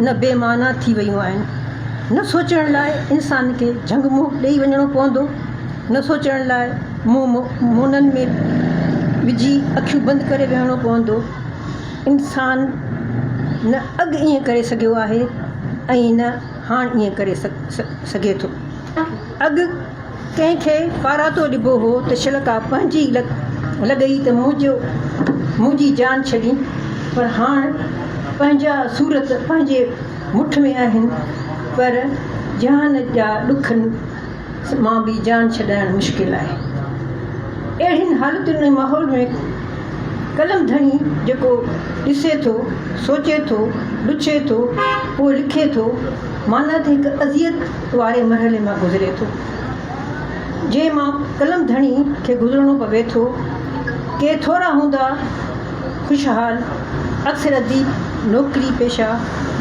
نه بي معنيٰ ٿي ويون آهن. نه سوچڻ لاء انسان کي جهنگ منهن ڏيئي وڃڻو پوندو، نه سوچڻ لاء منهن مونن ۾ وجهي اکيون بند ڪري ويهڻو پوندو. انسان نه اڳ ائين ڪري سگهيو آهي ۽ نه هاڻ ائين ڪري سگهي ٿو. اڳ ڪنهن کي پاراتو ڏبو هو ته شلڪا پنهنجي ئي لڳئي ته منهنجي جان ڇڏين پر هاڻ پنهنجا سورت پنهنجي مٺ ۾ آهن پر جهان جا ڏک مان به جان ڇڏائڻ مشڪل آهي اهڙين حالتن ۽ ماحول ۾ قلم ڌڻي جيڪو ڏسي ٿو سوچي ٿو ڏڇي ٿو پوء لکي ٿو معنيٰ ته هڪ اذيت واري مرحلي مان گذري ٿو، جنهن مان قلم ڌڻي کي گذرڻو پوي ٿو. ڪي ٿورا هوندا خوشحال، اڪثر اديب، نوڪري پيشه،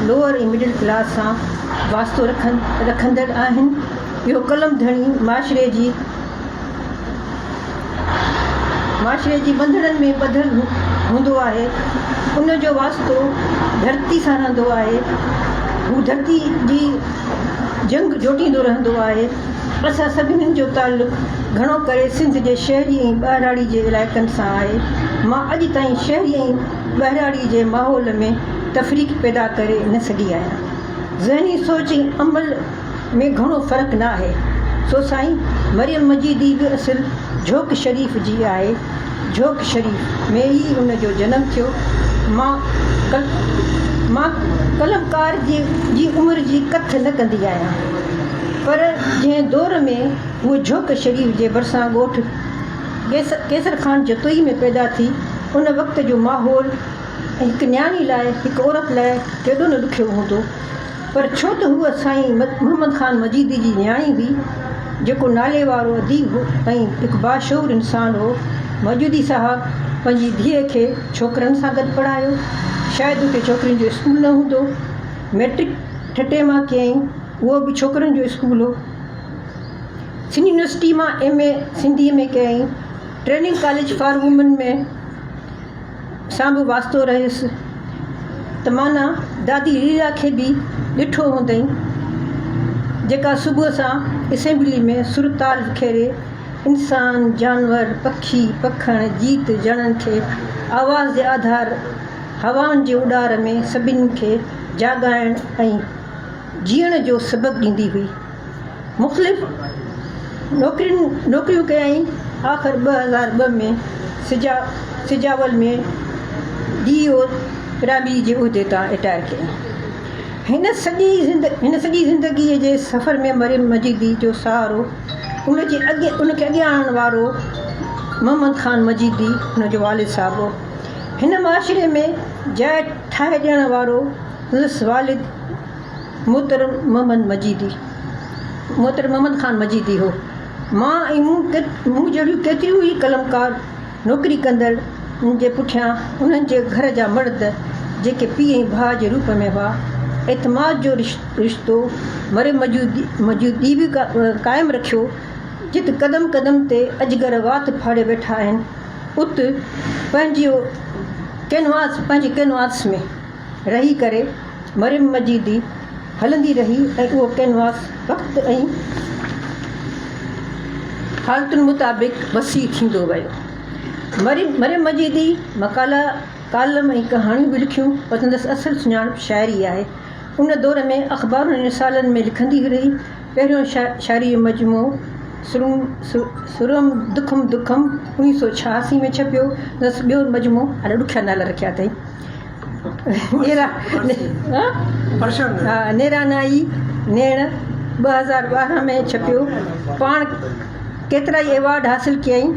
لوئر ۽ مڊل ڪلاس سان واسطو رکندڙ آهن. اهو قلم ڌڻي معاشري جي معاشري جي ٻنڌڻن ۾ ٻڌل هوندو آهي، ان جو واسطو ڌرتي سان رهندو آهي، هو ڌرتي جي جنگ جوٽيندو رهندو آهي، اسان سڀني جو تعلق گهڻو ڪري سنڌ جي شهري ۽ ٻهراڙي جي علائقن سان آهي، مان اڄ تائين شهري ۽ ٻهراڙي جي ماحول ۾ تفريق پيدا ڪري نه سگهي آهيان، ذهني سوچ ۽ عمل ۾ گهڻو فرق نه آهي سو سائين مريم مجيدي به اصل جهوڪ شريف جي آهي جهوڪ شريف ۾ ئي ان جو جنم ٿيو مان مان قلمڪار جي عمر جي ڪٿ نه ڪندي آهيان پر جنهن دور ۾ هوء جهوڪ شريف جي ڀرسان ڳوٺ قيصر خان جتوئي ۾ پيدا ٿي ان وقت جو ماحول هڪ نياڻي لاء هڪ عورت لاء ڪيڏو نه ڏکيو هوندو پر ڇو ته هوء سائين محمد خان مجيدي جي نياڻي هئي، جيڪو ناليوارو اديب هو ۽ هڪ باشعور انسان هو. مجيدي صاحب پنهنجي ڌيء کي ڇوڪرن سان گڏ پڙهايو. شايد اتي ڇوڪرين جو اسڪول نه هوندو. مئٽرڪ ٺٽي مان ڪيائين، اهو به ڇوڪرن جو اسڪول هو. سنڌ يونيورسٽيء مان ايم. اي سنڌيء ۾ ڪيائين. Training college for women ۾. سان به واسطو رهيس ته معنيٰ دادي ليلا کي به ڏٺو هوندئين، جيڪا صبح سان اسيمبلي ۾ سر تال وکيري انسان، جانور، پکي، پکڻ، جيت جڻن کي آواز جي آڌار هوائن جي اڏار ۾ سڀني کي جاڳائڻ ۽ جيئڻ جو سبق ڏيندي هئي. مختلف نوڪريون ڪيائين آخر ٻه هزار ٻه ۾ سجاول ۾ ڊي او پرائمري جي عهدي تان رٽائر ڪيائين هن سڄي زندگي جي سفر ۾ مريم مجيدي جو سهارو ان کي اڳيان آڻڻ وارو محمد خان مجيدي هن جو والد صاحب هو هن معاشري ۾ جاء ٺاهي ڏيڻ وارو سندس والد محترم محمد مجيدي محترم محمد خان مجيدي هو. مان ۽ مون مون جهڙيون ڪيتريون ئي قلمڪار نوڪري ڪندڙ ان جي پٺيان انهن جي گهر جا مرد جيڪي پيء ۽ ڀاء جي روپ ۾ هئا اعتماد جو رشتو مري مجيدي به قائم رکيو جت قدم قدم تي اجگر وات ڦاڙي ويٺا آهن ات پنهنجي ڪينواس ۾ رهي ڪري مريم مجيدي هلندي رهي ۽ اهو ڪينواس وقت ۽ حالتن مطابق وسيع ٿيندو ويو. مريم مجيدي مقالا، ڪالم ۽ ڪهاڻيون به لکيون پر سندس اصل سڃاڻپ شاعري آهي. ان دور ۾ اخبارن ۽ رسالن ۾ لکندي رهي. پهريون شاعري جو مجموعو سرم دکم دکم اڻيهه سؤ ڇهاسي ۾ ڇپيو. سندس ٻيو مجموعو اڏا ڏکيا نالا رکيا اٿئي. نيرانائي نيڻ، ٻه هزار ٻارهن ۾ ڇپيو، پاڻ ڪيترائي ايوارڊ حاصل ڪيائين.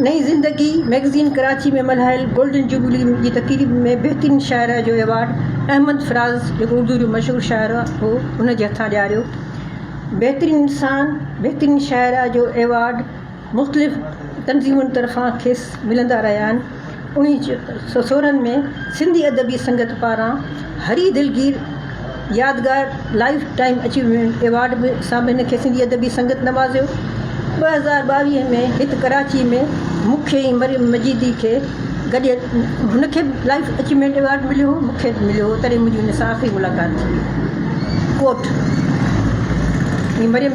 نئين زندگي مئگزين ڪراچي ۾ ملهايل گولڊن جوبلي جي تقريب ۾ بهترين شاعره جو ايوارڊ احمد فراز جيڪو اردو جو مشهور شاعر هو ان جي هٿان ڏياريو. بهترين انسان، بهترين شاعره جو ايوارڊ مختلف تنظيمن طرفان کيس ملندا رهيا آهن. اڻيهن سؤ سورهن ۾ سنڌي ادبي سنگت پاران هري دلگير يادگار لائيف ٽائيم اچيومينٽ ايوارڊ به سان به هن کي سنڌي ادبي سنگت نوازيو. ٻه هزار ٻاويهه ۾ هت ڪراچي ۾ مکي ۽ مريم مجيدي کي گڏيل هن کي به لائيف اچيومينٽ ايوارڊ مليو هو، مون کي به مليو هو، تڏهن منهنجي هن سان آخري ملاقات ٿي هئي. ڪوٽ، هي مريم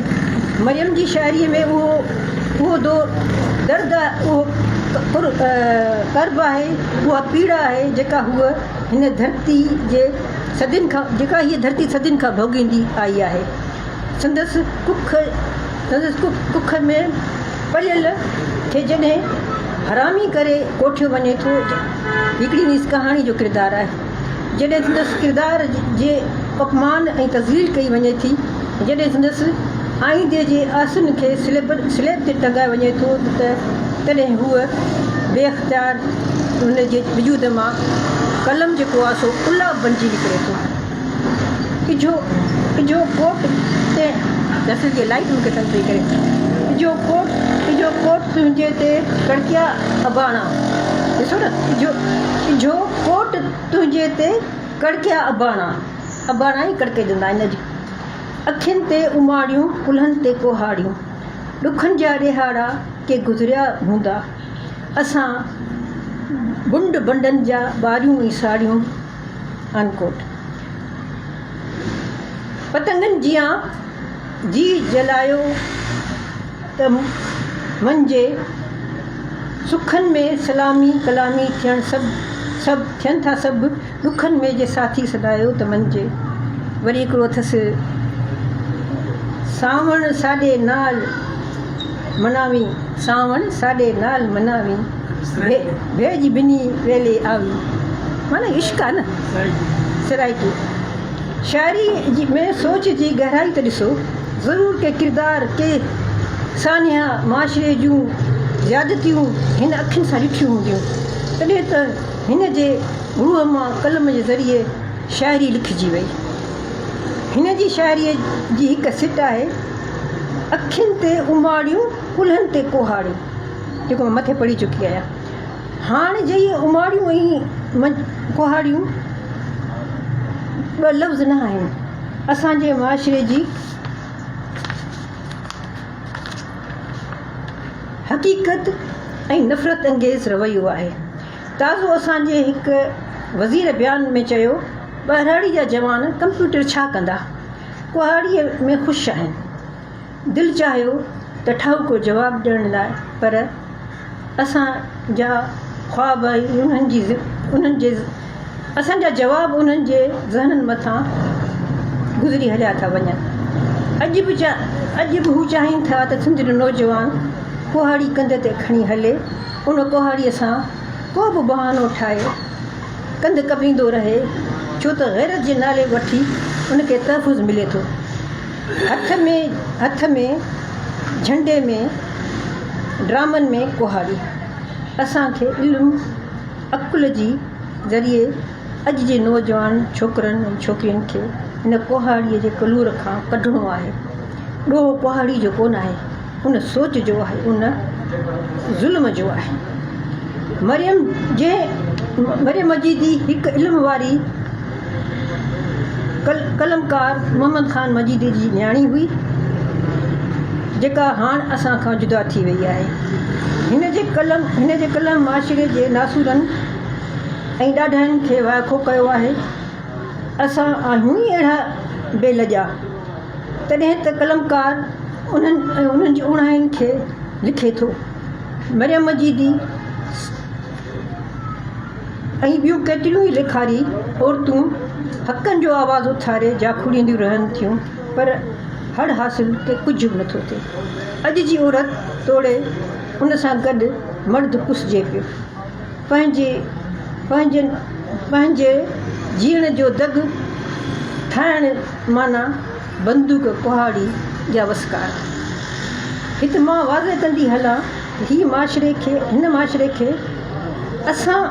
مريم جي شاعريء ۾ اهو اهو دور درد اهو ڪر ڪرب آهي، اها پيڙا آهي، جيڪا هوء هن ڌرتي جي صدين کان جيڪا هيء ڌرتي صدين کان ڀوڳيندي آئي آهي. سندس ڪک ۾ پليل کي جڏهن حرامي ڪري ڪوٺيو وڃي ٿو هڪڙي نيس ڪهاڻي جو ڪردار آهي جڏهن سندس ڪردار جي اپمان ۽ تذليل ڪئي وڃي ٿي جڏهن سندس آئيندي جي آسن کي سليب تي ٽنگايو وڃي ٿو ته تڏهن هوء بي اختيار هن جي وجود مان قلم جي ڪواسو ڪلاب بڻجي نڪري ٿو. اجهو اجهو ڪوٽ تي دسل جي لائيٽ مون کي تنگ پئي ڪري اجهو ڪوٽ اجهو ڪوٽ تنهنجي تي ڪڙڪيا اباڻا ڏسو نه اجهو اجهو ڪوٽ تنهنجي تي ڪڙڪيا اباڻا اباڻا ئي ڪڙڪي ڏنا هن جي اکين تي اماڙيون ڪلهن تي ڪوهاڙيون ڏکن جا ڏيهاڙا ڪي گذريا هوندا اسان بنڊ بنڊن جا ٻاريون ۽ ساڙيون Unquote. پتنگن جيان جيء جلايو ته منھنجي سکن ۾ سلامي ڪلامي ٿيڻ سڀ سڀ ٿين ٿا سڀ ڏکن ۾ جي ساٿي سڏايو ته منھنجي وري ھڪڙو اٿس سانوڻ ساڏي نال مناوين سانوڻ ساڏي نال مناوين ڀيڄ ڀني ويلي آوي معنيٰ عشق آ نه سرائڪي شاعري ۾ سوچ جي گهرائي ته ڏسو ضرور ڪي ڪردار ڪي سانحا معاشري جون زيادتيون هن اکين سان ڏٺيون هونديون تڏهن ته هن جي روح مان قلم جي ذريعي شاعري لکجي وئي هن جي شاعري جي هڪ سٽ آهي اکين تي اماڙيون ڪلهن تي ڪهاڙيون جيڪو مان مٿي پڙهي چڪي آهيان هاڻ جي اهي اماڙيون ۽ ڪهاڙيون ٻه لفظ نه آهن اسان جي معاشري جي حقيقت ۽ نفرت انگيز رويو آهي تازو اسان جي هڪ وزير بيان ۾ چيو ٻهراڙي جا جوان ڪمپيوٽر ڇا ڪندا ڪهاڙيء ۾ خوش آهن. دل چاهيو ته ٺاهوڪو جواب ڏيڻ لاء پر اسان جا خواب انهن جي اسان جا جواب انهن جي ذهنن مٿان گذري هليا ٿا وڃن. اڄ به اڄ به هو چاهين ٿا ته سنڌ جو نوجوان ڪهاڙي ڪنڌ تي کڻي هلي، ان ڪهاڙيء سان ڪو به بهانو ٺاهي، ڪنڌ ڪپيندو رهي ڇو ته غيرت جي نالي وٺي ان کي تحفظ ملي ٿو. هٿ ۾ هٿ ۾ جهنڊي ۾ ڊرامن ۾ ڪهاڙي اسان کي علم عقل جي ذريعي اڄ جي نوجوان ڇوڪرن ۽ ڇوڪرين کي هن ڪهاڙي جي ڪلور کان ڪڍڻو آهي. ڏوهه ڪهاڙي جو ڪونه آهي. ان سوچ جو آهي ان ظلم جو آهي مريم جنهن مريم جي دي هڪ علم واري قلمڪار محمد خان مجيدي جي نياڻي هئي جيڪا هاڻ اسان کان جدا ٿي وئي آهي هن جي قلم هن جي قلم معاشري جي ناسورن ۽ ڏاڍاين کي وائکو ڪيو آهي اسان آهيون ئي اهڙا بي لڄا تڏهن ته قلمڪار انهن ۽ انهن جي اوڻاين کي لکي ٿو. مريم مجيدي ۽ ٻيون ڪيتريون ئي ليکاري عورتون حقن جو آواز اٿاري جاکوڙينديون رهن ٿيون پر هڙ حاصل ته ڪجهه به نٿو ٿئي. اڄ جي عورت توڙي ان سان گڏ مرد پسجي پيو. پنهنجي پنهنجن پنهنجي جيئڻ جو دڳ ٺاهڻ معنيٰ بندوق ڪهاڙي جا وسڪار. هت مان واضح ڪندي هلان هي معاشري کي هن معاشري کي اسان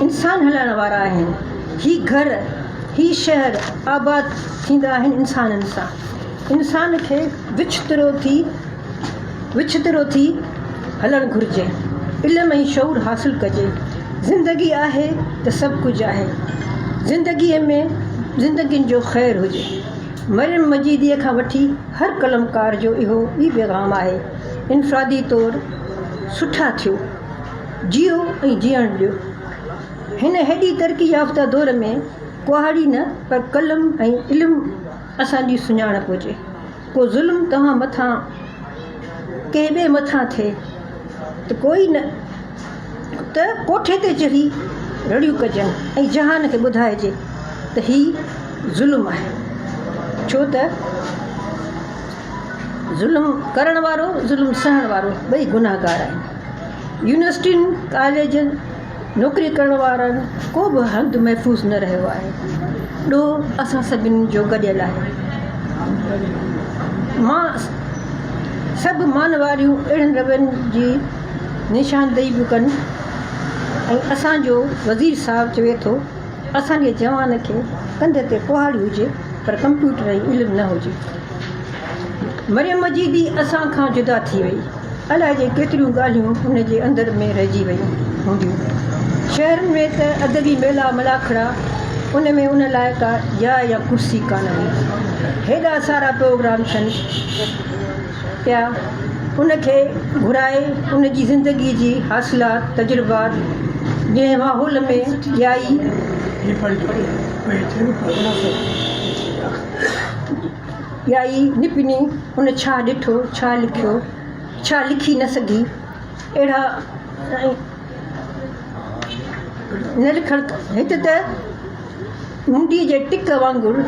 انسان هلائڻ وارا آهن هي گهر هي شهر آباد ٿيندا آهن انسانن سان انسان کي وڇ ترو ٿي وڇترو ٿي هلڻ گهرجي، علم ۽ شعور حاصل ڪجي، زندگي آهي ته سڀ ڪجهه آهي، زندگيء ۾ زندگين جو خير هجي. مريم مجيديء کان وٺي هر قلمڪار جو اهو ئي پيغام آهي، انفرادي طور سٺا ٿيو، جيئو ۽ جيئڻ ڏيو. هن هيڏي ترقي يافته دور ۾ ڪهاڙي نه پر قلم ۽ علم اسان جي سڃاڻپ هجي. ڪو ظلم توهان مٿان ڪنهن ٻئي مٿان ٿئي ته ڪوئي نه ته ڪوٺي تي چڙهي رڙيون ڪجن ۽ جهان کي ٻڌائجي ته هي ظلم آهي ڇو ته ظلم ڪرڻ وارو ظلم سهڻ وارو ٻئي گنهگار آهن يونيورسٽين ڪاليجن نوڪري ڪرڻ وارن ڪو به هنڌ محفوظ نه رهيو آهي. ڏوهه اسان سڀني جو گڏيل آهي. مان سڀ مان واريون اهڙن روين جي نشاندهي به ڪن ۽ اسان جو وزير صاحب چوي ٿو اسان جي جوان کي ڪنڌ تي ڪهاڙي هجي پر ڪمپيوٽر ۽ علم نه هجي. مريم مجيدي اسان کان جدا ٿي وئي. الاء جي ڪيتريون ڳالهيون ان جي اندر ۾ رهجي ويون هونديون. شهرن ۾ ته ادبي ميلا ملاکڙا، ان ۾ ان لاء ڪا جاء يا ڪرسي ڪانه هئي. هيڏا سارا پروگرام ٿين پيا، ان کي گهرائي ان جي زندگي جي حاصلات، تجربات، جنهن ماحول ۾ ڄائي، ڳائي نپني ان ڇا ڏٺو، ڇا لکيو، ڇا لکي نه سگهي، اهڙا نه لکڻ هت ته منڊي جي ٽڪ وانگر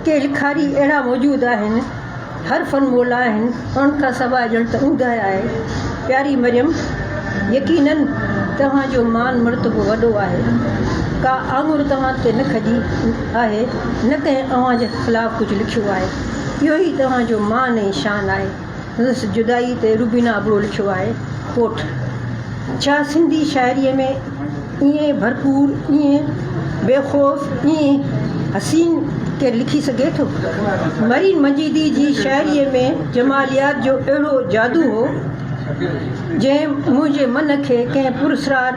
ڪي لکاري اهڙا موجود آهن، هر فن مولا آهن. ان کان سواء ڄڻ ته اونداهي آهي. پياري مريم! يقيناً توهان جو مان مرتبو وڏو آهي. ڪا آڱر توهان تي نه کڄي آهي، نه ڪنهن اوهان جي خلاف ڪجهه لکيو آهي. اهو ئي توهان جو مان ۽ شان آهي. سندس جدائي تي روبينا ابڙو لکيو آهي، ڪوٽ، ڇا سنڌي شاعريء ۾. ائين ڀرپور، ائين بي خوف، ائين حسين ڪير لکي سگهي ٿو؟ مرين مجيدي جي شاعريء ۾ جماليات جو اهڙو جادو هو، جنهن منهنجي من کي ڪنهن پراسرار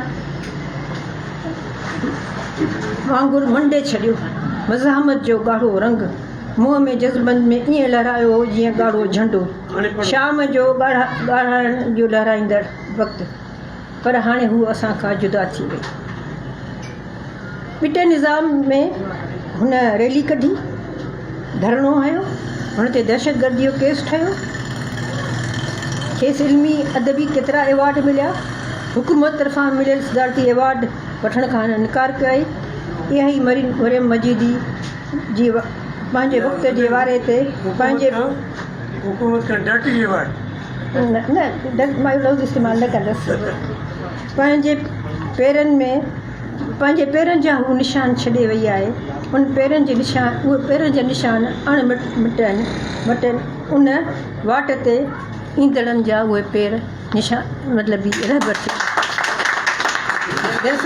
وانگر منڊي ڇڏيو. مزاحمت جو ڳاڙهو رنگ، منهن ۾ جذبن ۾ ائين لهرايو هو، جيئن ڳاڙهو جهنڊو، شام جو ڳاڙهائڻ جو لهرائيندڙ وقت. پر هاڻي هوء اسان کان جدا ٿي وئي. ٻٽي نظام ۾ هن ريلي ڪڍي، ڌرڻو هنيو، هن تي دهشتگردي جو ڪيس ٺهيو، کيس علمي، ادبي ڪيترا ايوارڊ مليا، حڪومت طرفان مليل صدارتي ايوارڊ وٺڻ کان هن انڪار ڪيائين، اها ئي مريم مجيدي جي پنهنجي وقت جي واري تي پنهنجي حڪومت کان ڊاٽي ايوارڊ. پنهنجي پيرن ۾ پنهنجي پيرن جا هو نشان ڇڏي وئي آهي. ان پيرن جي نشان اهي پيرن جا نشان اڻ مٽن مٽن ان واٽ تي ايندڙن جا اهي پير نشان مطلبي رهبر ٿي ويا.